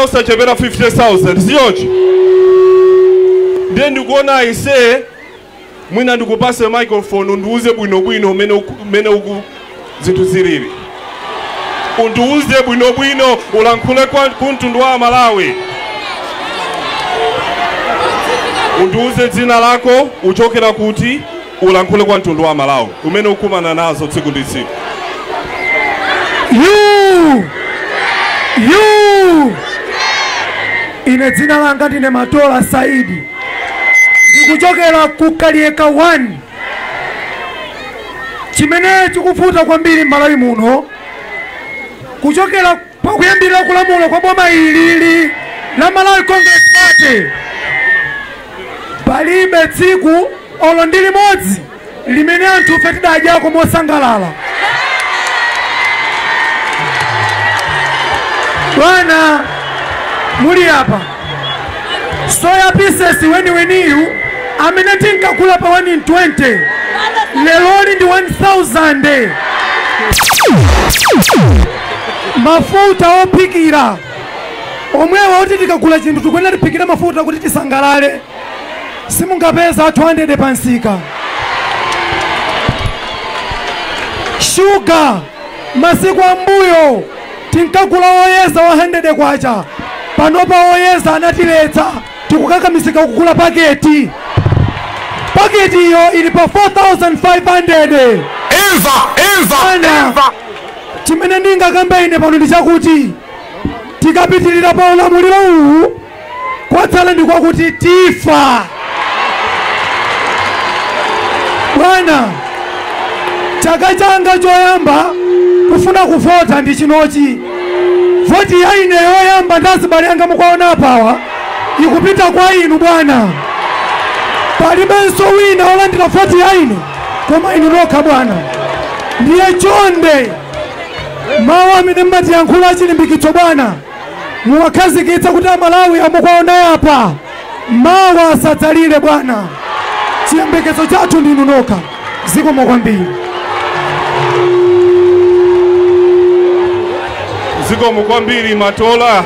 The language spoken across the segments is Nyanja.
osachepera 50,000 sichoncho ndiye ndikuona aise mwina ndikupase microphone undiuze bwinobwino umene uku- umene uku zinthu zilili undiuze bwinobwino ulankhule kwa kumtundu wa amalawi undiuze dzina lako uchokera kuti Ulankhule kwa mtundu wa Amalawi umene ukumana nazo tsiku ndi tsiku. You! You! Ine dzina langa ndine Matola Saidi ndikuchokera ku Kaliyeka 1 chimene chikuvuta kwambiri m'Malawi muno kuchokera Pakuyambira kulamula kwa boma ilili la Malawi Congress Party palibe tsiku olo ndi limodzi limene anthufe tidadyako mosangalala. Bwana muli apa soya pieces weniweniyu amene tinkagula pa 120 leroli ndi 1000 mafuta ophikira omwewa oti tikagula chinthu tikuyenera tiphikire mafuta kuti tisangalale simungapeze a 200 pa msika shuga masiku ambuyo tinkagula woyeza wa K100, panopa woyeza anatiletsa, tikukakamizika kugula paketi. Paketiyo ili pa K4,500. Imva, imva, imva. Chimene ndingakambe ine pano ndi chakuti tikapitirira pa ulamuliro uwu kwatsala ndikwakuti tifa bwana chaka changa choyamba kufuna kuvota ndi chinochi voti ya ine yoyamba ndi azibale anga mukuwaona apawa ikupita kwa inu bwana palibenso wina wolandira voti ya ine koma inu nokha bwana ndiye chonde mawu amene mmatiyankhula achilimbikitso bwana muwakhazikitse kuti amalawi amukuwaona apa mawa asadzalire bwana chiyembekezo chathu ndinu nokha zikomo kwambiri zikomo kwambiri matola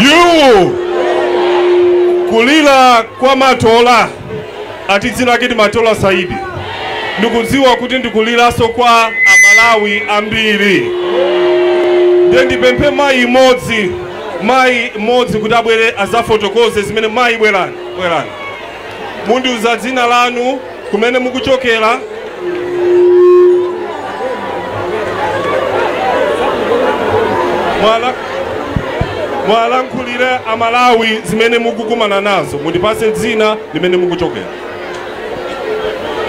yu kulira kwa matola ati dzina lake ndi matola saidi ndikudziwa kuti ndikuliranso kwa amalawi ambiri ndiye ndipemphe mayi mmodzi mayi mmodzi kuti abwere azafotokoze zimene mayi bwerani bwerani mundiuza dzina lanu, kumene mukuchokera, muwalankhulire amalawi zimene mukukumana nazo mundipase dzina ndi kumene mukuchokera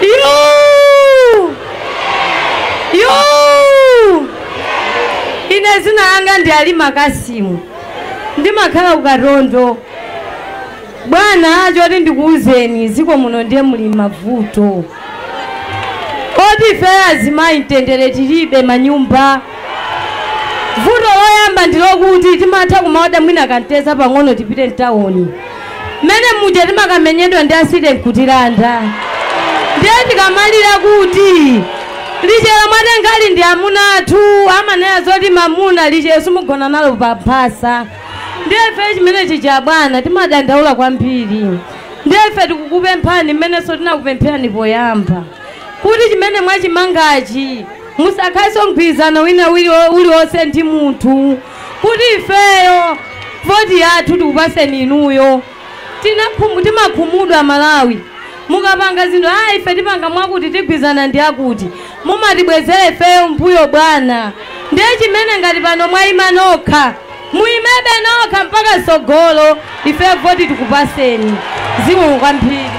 Yo! Yo! Ine zina langa ndi Alima Kasimu. Ndimakhala ku Katondo. Bwana choti ndikuuzeni ziko muno ndiye muli mavuto oti ifeyo azimayi mtendere tilibe mmanyumba vuto loyamba ndilokuti timatha kumaoda mwina kamtedza pang'ono tipite mtawoni mmene muja timakamenyedwa ndi asite nkutilanda ndiye tikamalira kuti lichero mwatengali ndi amuna athu amanena zoti mamuna lichero simugona nalo pa mphasa Ndiye ife chimene chija bwana timadandaula kwambiri. Ndiye ife tikukupemphani mmenenso tinakupempherani poyamba kuti chimene mwachimangachi musakhalenso mgwirizano wina wili- uliwonse ndi munthu kuti ifeyo voti yathu tikupaseni inuyo tinakhum timakhumudwa amalawi mukapanga zinthu aa ife tipanga mwakuti tigwirizana ndiakuti mumatibwezera ifeyo mmbuyo bwana ndiye chimene ngati pano mwaima nokha muimebe nokha mpaka mtsogolo ifeyo voti tikupaseni zikomo kwambiri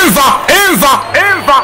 Imva, imva, imva.